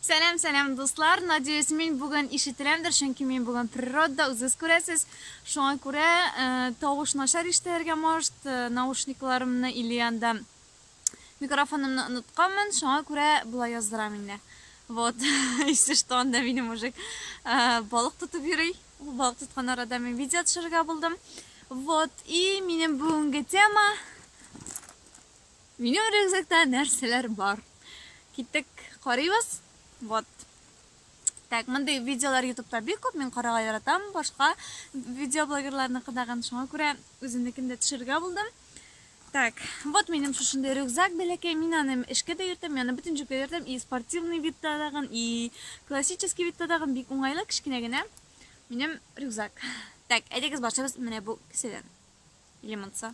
Сәлам, сәлам, дуслар! Надеюсь, мин бүген ишетеләмдер, чөнки мин бүген природада, үзегез күрәсез. Шуңа күрә э, тавыш начар ишетелергә может, э, наушникларымны или анда микрофонымны онытканмын, шуңа күрә болай яздырам инде. Вот, если что, анда минем мужик э, балык тотып йөри. Ул балык тоткан арада мин видео төшерергә булдым. Вот, и минем бүгенге тема Минем рюкзакта нәрсәләр бар? Киттек, карыйбыз. Вот. Так, мондый видеолар ютубта бик күп, мин карарга яратам, башка видеоблогерларныкыдагын, шуңа күрә үземнекен дә төшерергә булдым. Так, вот минем шушындай рюкзак бәләкәй, мин аны эшкә дә йөртәм, мин аны бөтен җиргә йөртәм, и спортивный видта дагын, и классический видта дагын, бик уңайлы, кечкенә генә минем рюкзак. Так, әйдәгез башыбыз менә бу кесәдән. Или монсы.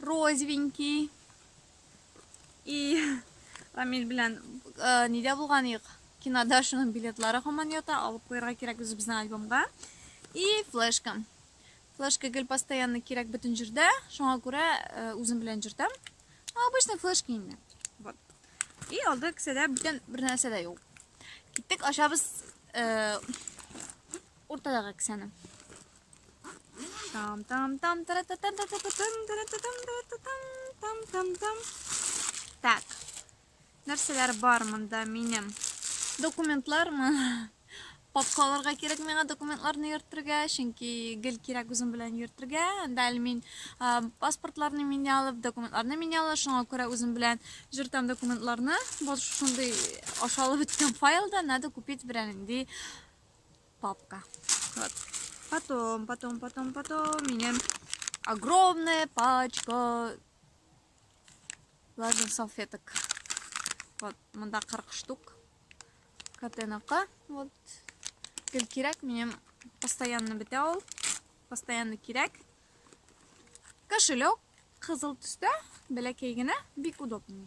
Розвенький. И Рамиль белән э, нидә булган ек? Кинода шуның билетлары һаман ята, алып куярга кирәк үзебезнең альбомга. И флешка. Флешка гел постоянно кирәк бөтен җирдә, шуңа күрә э, үзем белән җөртәм. Обычный флешка инде. Вот. И алды кесәдә бүтән бер нәрсә дә юк. Киттек, ашабыз э, уртадагы кесәне. Там там там та та там та та там та та там та там там там там Так. Нәрсәләр бар монда минем? Документлармы? Папкаларга кирәк миңа документларны йөртергә, чөнки гел кирәк үзем белән йөртергә. Анда әле мин паспортларны мин алып, документларны мин алып, шуңа күрә үзем белән җөртәм документларны. Бу шундый ашалып беткән файлда надо купить берәр инде Папка. Вот. Потом, потом, потом, потом. Меня огромная пачка влажных салфеток. Вот, мында 40 штук. Катенака. Вот. Гел кирәк, минем постоянно бетә ул. Постоянно кирәк. Кошелек кызыл төстә, бәләкәй генә, бик удобный.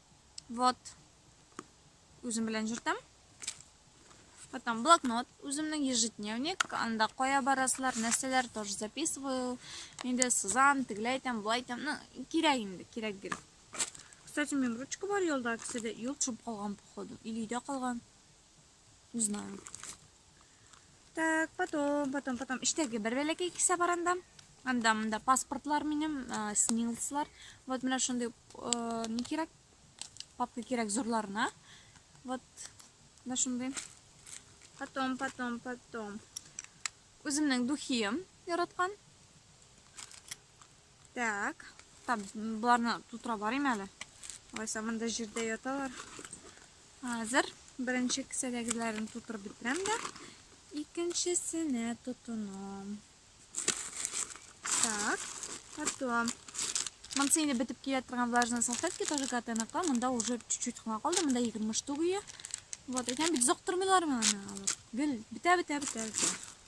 Вот. Үзем белән җөртәм. Потом блокнот, үземнең ежедневник, анда кая барасылар, нәрсәләр тоже записываю. Инде сызам, тегеләй итәм, былай итәм. Ну, кирәк инде, кирәк гел. Кстати, минем ручка бар юлда, кесәдә. Юл төшеп калган, походу. Или өйдә калган. Не знаю. Так, потом, потом, потом. Иштәге бер бәләкәй кисә бар анда. Анда, анда паспортлар минем, э, снилслар. Вот менә шундый, э, не кирәк, папка кирәк зурларына. Вот, менә шундый. Потом, потом, потом. Үземнең духием яраткан. Так, там боларны тутыра барыйм әле. Алайса монда җирдә яталар. Хәзер беренче кесәдәгеләрен тутырып бетерәм дә икенчесенә тотынам. Так, потом Монсы инде бетеп килә торган влажные салфетки тоже катанакла. Монда уже чуть-чуть кына калды. Монда 20 штук ия. Вот, әйтәм бит, зоктырмыйлар моны. Гел бетә, бетә, бетә, бетә.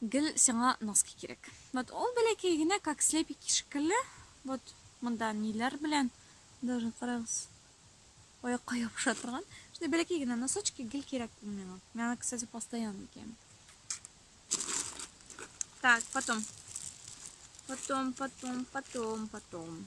Гел сиңа носки кирәк. Вот ул бәләкәй генә как слепики шикелле, вот монда ниләр белән даже карагыз. Аякка ябыша торган. Шундый бәләкәй генә носочки гел кирәк ул миңа. Мин аны, кстати, постоянно киям. Так, потом. Потом, потом, потом, потом.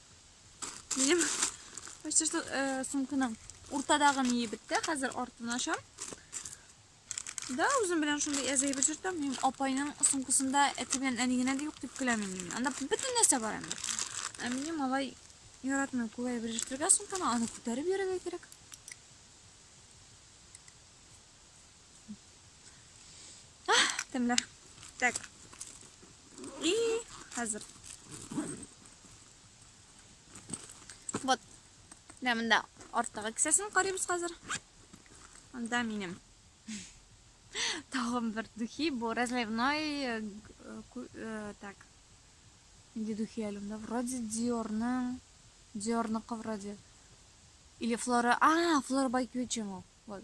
Минем почти что э, сумканың уртадагын иеп бетте. Хәзер артын ачам. Да, үзем белән шундый әзәй бөҗертәм. Мин апайның сумкасында әти белән әни генә дә юк дип көләм инде. Анда бөтен нәрсә бар инде. Ә минем малай яратмый күләй бөҗертергә сумканы, аны күтәреп йөрергә кирәк. Тәмле. Так. И хәзер. Вот. Менә монда арттагы кесәсен карыйбыз хәзер. Анда минем. Тагын бер духи, бу разливной э, э, так. Нинди духи әле монда? Вроде Dior-ның Dior-ныкы вроде. Или Flora. А, Flora by Gucci. Вот.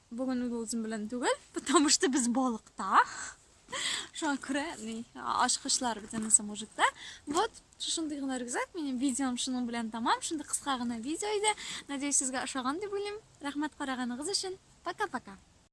Бүген ул үзем белән түгел, потому что без балыкта. Шуңа күрә ни, ачкычлар бит анысы мужикта. Вот, шушындый гына рюкзак, минем видеом шуның белән тамам. Шундый кыска гына видео иде. Надеюсь, сезгә ошаган дип уйлыйм. Рәхмәт караганыгыз өчен. Пока-пока.